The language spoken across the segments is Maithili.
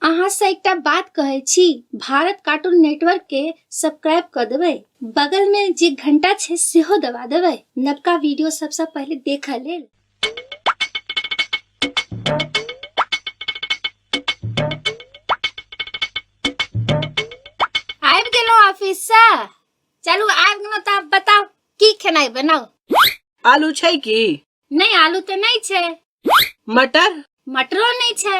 अहाँ से एकटा बात कहे छी भारत कार्टून नेटवर्क के सब्सक्राइब कर देवे बगल में जे घंटा छे सेहो दबा देवे नवका वीडियो सबसे पहले देखे लेल आबि गेलो ऑफिस से चलू आबि गेलो तऽ आब बताउ की खेनाइ बनाउ आलू छै की नहीं आलू तो नहीं छे मटर मटरो नहीं छे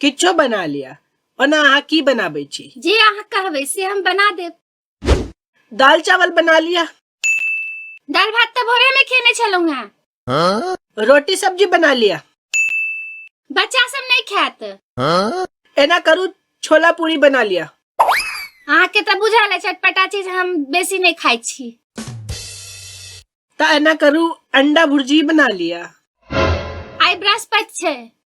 किछो बना लिया ओना अहाँ की बनाबै छी जे अहाँ कहबै से हम बना देब दाल चावल बना लिया दाल भात तऽ भोरे में खेने छलहुँ हैं रोटी सब्जी बना लिया बच्चा सब नहीं खायत एना करू छोला पूरी बना लिया अहाँ के तऽ बुझल है चटपटा चीज हम बेसी नहीं खाई छी तऽ एना करू अंडा भुर्जी बना लिया आइ बृहस्पति छै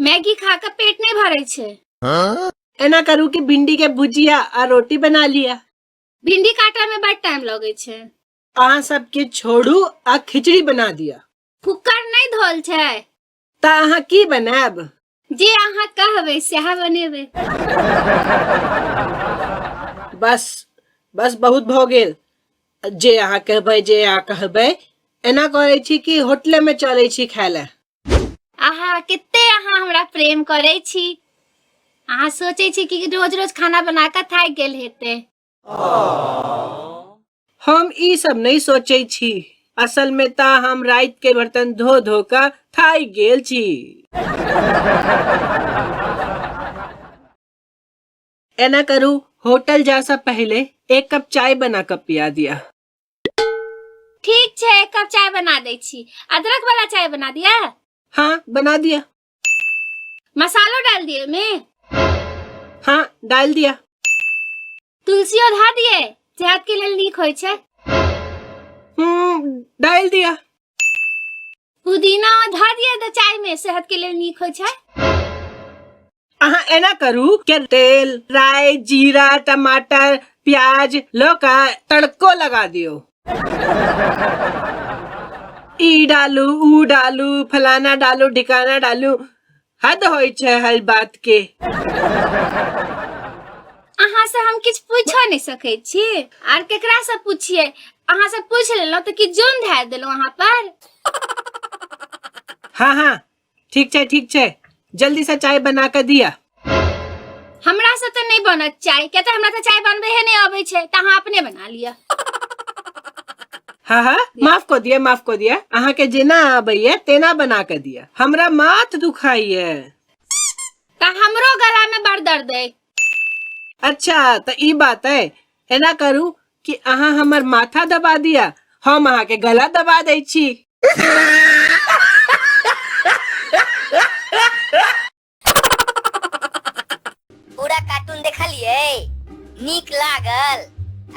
मैगी खा के पेट नहीं भरे छे एना करू कि भिंडी के भुजिया आ रोटी बना लिया भिंडी काटा में बड़ टाइम लगे छे अहाँ सबके छोड़ू आ खिचड़ी बना दिया कुकर नहीं धोल छे ता अहाँ की बनाब जे अहाँ कहबे सएह बनेबे बस बस बहुत भ गेल जे अहाँ कहबै जे अहाँ कहबै एना करै छी कि होटले में चलै छी खाय लए अहाँ कते अहाँ हमरा प्रेम करै छी अहाँ सोचै छी कि रोज रोज खाना बना कऽ थाकि गेल हेतै हम ई सब नहीं सोचे छी असल में ता हम रात के बर्तन धो धो का थाई गेल छी एना करू होटल जा सा पहले एक कप चाय बना कर पिया दिया ठीक छै एक कप चाय बना दै छी अदरक वाला चाय बना दिया हाँ बना दिया मसालो डाल दिए में हाँ डाल दिया तुलसी और धा दिए सेहत के लिए नीक होय छै हम्म डाल दिया पुदीना धऽ दिअ तऽ चाय में सेहत के लिए नीक होइ छै अहाँ एना करू के तेल राय जीरा टमाटर प्याज लऽ कऽ तड़को लगा दियौ ई डालू ऊ डालू फलाना डालू ढिकाना डालू हद होइ छै हल बात के अहाँ से हम किछु पूछो नहि सकै छी आर केकरा से पूछिए अहाँ से पूछ लेलहुँ तऽ की जोन धारि देलहुँ अहाँ पर हाँ हाँ ठीक छै ठीक छै जल्दी से चाय बना के दिया हमरा से तऽ नहि बनत चाय किया तऽ हमरा तऽ चाय बनबे हे नहि अबै छै तऽ अहाँ अपने बना लिअ हाँ हाँ माफ कऽ दिअ माफ कऽ दिअ अहाँके जेना आबैया तेना बना कऽ दिअ हमरा माथ दुखाइए तऽ हमरो गला में बड़ दर्द है अच्छा तऽ ई बात है एना करू कि अहाँ हमर माथा दबा दिअ हम अहाँके गला दबा दै छी पूरा कार्टून देखलिए नीक लागल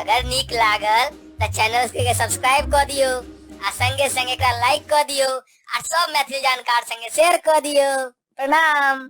अगर नीक लागल तो चैनल के सब्सक्राइब कर दियो आ संगे संगे का लाइक कर दियो आ सब मैथिली जानकार संगे शेयर कर दियो प्रणाम